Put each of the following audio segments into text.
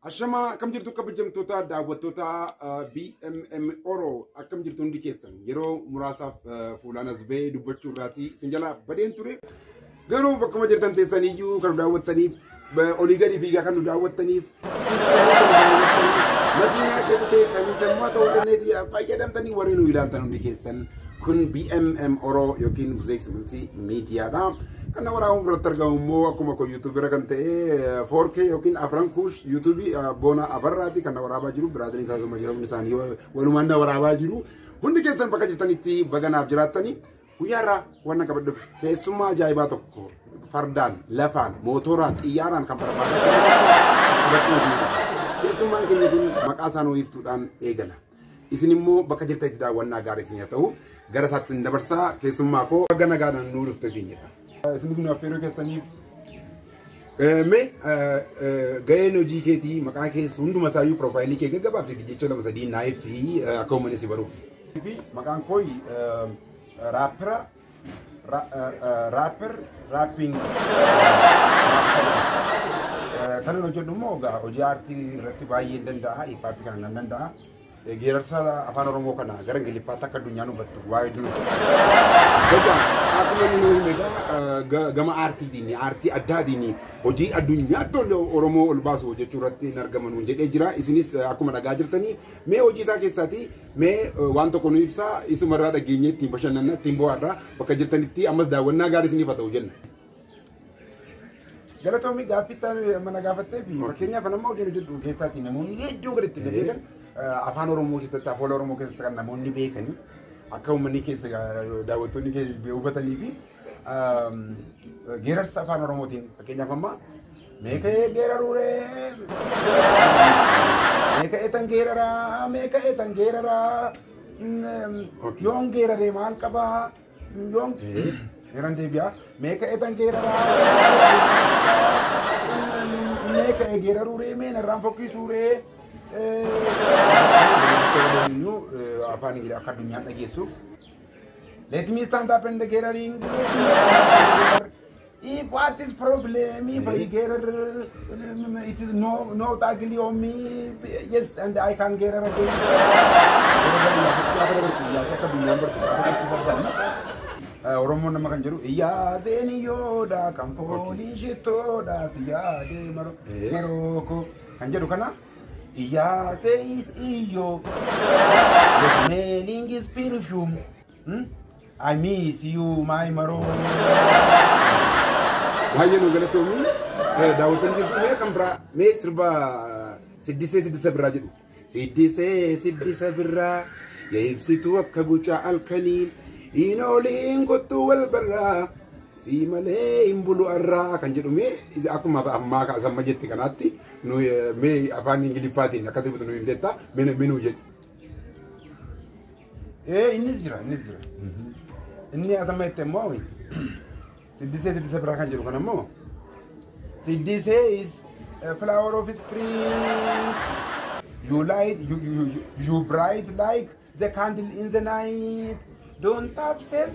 Ashamaa akkam jirtu kabajamtoota daawwattoota uh, BMM Oro akkam jirtu hundi keessan yeroo muraasaaf uh, fuulaan as ba'ee dubbachuu irraatii isin jalaa badeen ture. Garuu bakkuma jirtan teessaniyyuu kan nu daawwattaniif ba- olii gadi fiigaa kan nu daawwattaniif ciiftanii kan nu daawwattaniif matii mana keessa teessanii sammaa ta'uu dandeetii fayyadamtanii warri nu ilaaltan hundi keessan kun BMM Oro yookiin Buzeeks Bultii Miidiyaadha. Kan na waraabuu biratti argamu immoo akkuma koo yuutuubira kan ta'e 4K yookiin Afran Kuush yuutuubii Boona Abarraati kan na waraabaa jiru biraatiin isaasuma jira hundi isaanii walumaan na waraabaa jiru. Hundi keessan bakka jirtanitti baga naaf jiraattanii Guyyaa irraa wanna qabadhuuf keessummaa ajaa'ibaa tokko fardaan, lafaan, mootoraan, xiyyaaraan kan barbaadaa keessummaan keenya kun maqaa isaa nuu ibsuudhaan eegala. Isin immoo bakka jirtanitti daawwannaa gaarii isin haa ta'u gara isaatti isin dabarsaa keessummaa koo baga nagaadhaan nuu dhufte isin jedha. Isinis nu affeeruu keessaniif mee ga'een hojii keetii maqaa kees hunduma isaayyuu piroofaayilii kee gaggabaabsiiti jecha lama sadii naa ibsi akka uummanni si baruuf. Fi maqaan koo raappira raapper raapping kanan hojjedhu immoo hojii aartii irratti baay'een danda'a hiippaappi kana nan danda'a. Geerarsa afaan Oromoo kana gara Ingiliffaatti akka addunyaan hubattu waa hedduu nu Egaa akkuma inni nu hime egaa ga- gama aartiitiin aartii addaatiin hojii addunyaatti ol- Oromoo ol baasu hojjechuu irratti hin argamanu jedhee jira. Isinis eh, akkuma dhagaa jirtanii mee hojii isaa keessaati mee eh, waan tokko nu ibsaa isumarraa dhageenyee ittiin bashannanna ittiin bohaarra bakka jirtanitti ammas daawwannaa gaarii isiniif haa ta'u jenna. Galatoomi gaaffii itti aanu amma na gaafattee fi fakkeenyaaf nama hojii hojjedhu keessaati namoonni hedduun kan ittiin na beekan afaan Oromoo keessatti afoola Oromoo keessatti kan namoonni beekanii akka uummanni keessa daawwattoonni keessa hubatanii fi geerarsa afaan Oromootiin fakkeenyaaf amma meeka'ee geeraruuree meeka'ee tan geeraraa meeka'ee tan geeraraa yoon geeraree maal qabaa New York. Eran deebi'a. Meeqa etan geeraraa? Meeqa egeeraruu ree mee narraan fokkisuu ree? Iyyuu afaan Ingilaa akka addunyaan dhageessuuf. Let me stand up and the geeraring. If what is problem, if I get her, um, it is no no ugly on me. Yes, and I can get her again. Oromoon nama kan jedhu yaa zeeniyoodha kan foolii shittoodha siyaa deemaro marooko kan jedhu kana yaa seeyis iyyoo meeliingis pirfiyuum I miss you my maroo. Baay'ee nu galatoomii daawwatan jirtu mee kan biraa mee sirba siddisee siddisa biraa jedhu. Siddisee siddisa biraa yaa ibsituu akka gucaa halkanii hin ooliin kottuu wal barraa si malee hin bulu arraa kan jedhu mee akkuma ammaa samma jette kanaatti nu mee afaan ingiliffaatiin akka dubbatu nu himteetta mee nu jedhu. Ee innis jira innis jira. Inni atama itti ammoo siddisee siddisee biraa kan jedhu kan ammoo siddisee is a flower of spring. You light you you you, you bright like the candle in the night. Don't touch self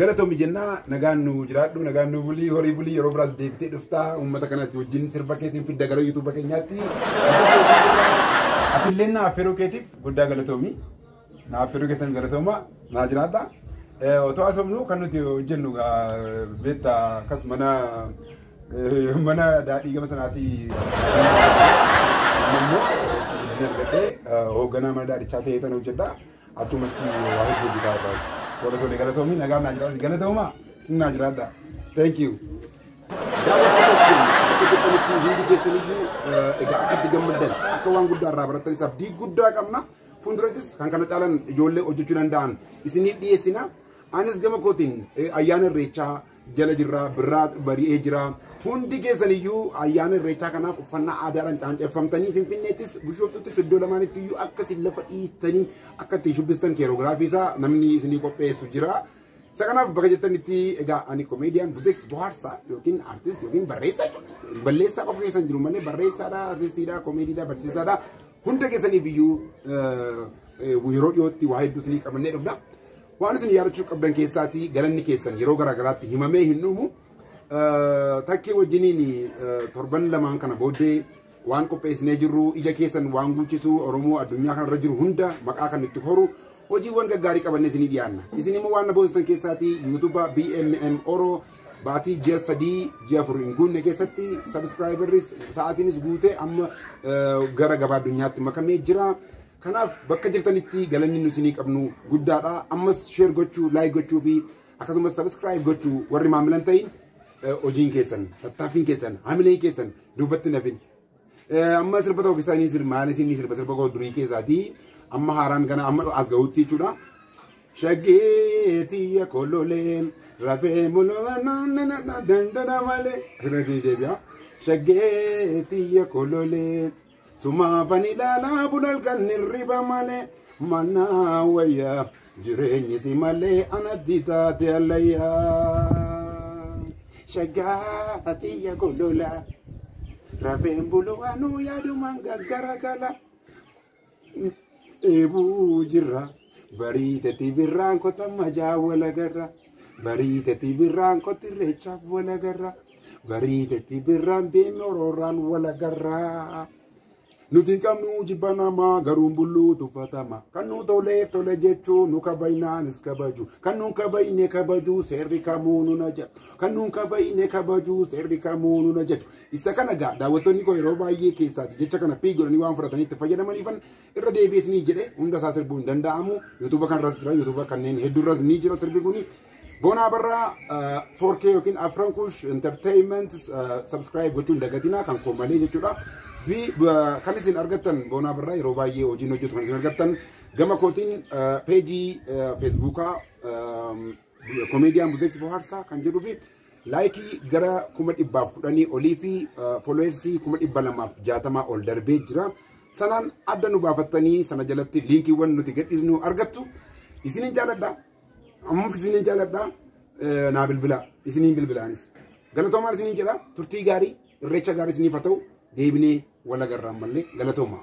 Galatoomi jennaa nagaan nu jiraadhu nagaan nu bulii horii bulii yeroo biraas deebitee dhuftaa uummata kanatti wajjin sirba keetiin fidda gara yuutuuba keenyaatti. Atillee na affeeruu keetiif guddaa galatoomi. Na affeeruu keessan galatooma naa jiraadha. Otoo haasofnu kan nuti hojjennu beekta akkas mana mana daadhii gama sanaatii hoogganaa mana daadhichaa ta'ee tan hojjedha. Achumatti waa hedduu hojjetaa irraa. Warra tole galatoomii nagaan naa jiraadha. Galatoomaa sin naa jiraadha. Thank you. Daawwattoota keenya akka jirtanitti hundi keessaniyyuu eh, egaa akka itti gammaddan akka waan guddaa irraa barattanis abdii guddaa qabna. Fuuldurattis kan kana caalan ijoollee hojjechuu danda'an isiniif dhiyeessina. Anis gama kootiin eh, ayyaana irreechaa jala jirra birraa bari'ee jira. Hundi keessaniyyuu ayyaana irreechaa kanaaf uffannaa aadaadhaan caanceffamtanii Finfinneettis Bishooftuuttis iddoo lamaanitti iyyuu akka isin lafa dhiistanii akka ittiin shubbistan keeroogiraafii isaa namni isinii qopheessu jira. Isa kanaaf bakka jirtanitti egaa ani komeediyaan buzeeks bohaarsaa yookiin artist yookiin barreessaa jechuudha. Balleessaa qofa keessan jiru malee barreessaadha, artistiidha, komeediidha, barsiisaadha. Hunda keessaniif iyyuu yeroo dhiyootti waa hedduu isinii qabannee dhufna. Waan isin yaadachuu qabdan keessaatii galanni keessan yeroo garaa garaatti himamee hin dhumu. Takkee wajjiniin torban lamaan kana booddee waan qopheessinee jirru ija keessan waan guuchisu Oromoo addunyaa kanarra jiru hunda maqaa kan itti horu hojiiwwan gaggaarii qabannee isinii dhiyaanna. Isin immoo waan na boonsistan keessaatii yuutuuba BMM Oro baatii ji'a sadii ji'a afur hin guunne keessatti sabiskiraayibarris sa'aatiinis guutee amma gara gabaa addunyaatti makamee jira. Kanaaf bakka jirtanitti galanni nu isinii qabnu guddaadha. Ammas share gochuu, like gochuu fi akkasumas subscribe gochuu warri maamilan ta'in eh, hojiin keessan, tattaaffiin keessan, hamileen keessan duubatti hin hafin. Eh, Amma sirba tokko keessaa ni sirba, maaliif ni sirba sirba koo durii keessaati. Amma haaraan kana amma as gahuutti jechuudha. Shaggeetiya kololee rafee mul'ata dandada malee. Akkasumas ni deebi'a. Shaggeetiya kololee. Sumaafan ilaalaa bula halkan hirriba malee mannaa wayyaa jireenyi si malee anatti taate allayyaa. Shaggaa tiyya kolola rafeen bulu anuu yaadumaan gaggara gala. dheebuu jirra barii tati birraan kota majaa walagarra barii tati birraan koti reechaaf walagarra barii tati birraan deemni orooraan walagarra nuti hin qabnu jibba namaa garuun bulluu tuffatama kan nu toleef tole jechuu nu kabajnaanis kabaju kan nu kabajne kabaju seerri kamuu nu na jaju kan nu kabajne kabaju seerri kamuu nu na jaju Isa kana egaa daawwattoonni koo yeroo baay'ee keessaati jecha kana pii godhanii waan fudhatanii itti fayyadamaniifan irra deebi'ees ni jedhe hunda isaa sirbuu hin danda'amu yuutuuba kanarras jira yuutuuba kanneen hedduurras ni jira sirbi kuni. Boonaa barraa 4K yookiin Afran Kush Entertainment subscribe gochuun dagatinaa kan koo malee jechuudha. Kan isin argattan boonaa barraa yeroo baay'ee hojiin hojjetu kan isin argattan gama kootiin peejii feesbuukaa Komeediyaan Buzeetti Bohaarsaa kan jedhuu fi laayikii gara kuma dhibbaaf kudhanii olii fi fooloowersii kuma dhibba lamaaf jaatamaa ol darbee jira. Sanaan adda nu baafattanii sana jalatti liinkiiwwan nuti gadhiisnu argattu. Isinin jaaladha. Ammaaf isinin jaaladha. Naa bilbilaa. Isiniin bilbilaanis. Galatoomaa isinin jedha. Turtii gaarii irreecha gaarii isiniif haa ta'u deebinee wal agarraan malee galatoomaa.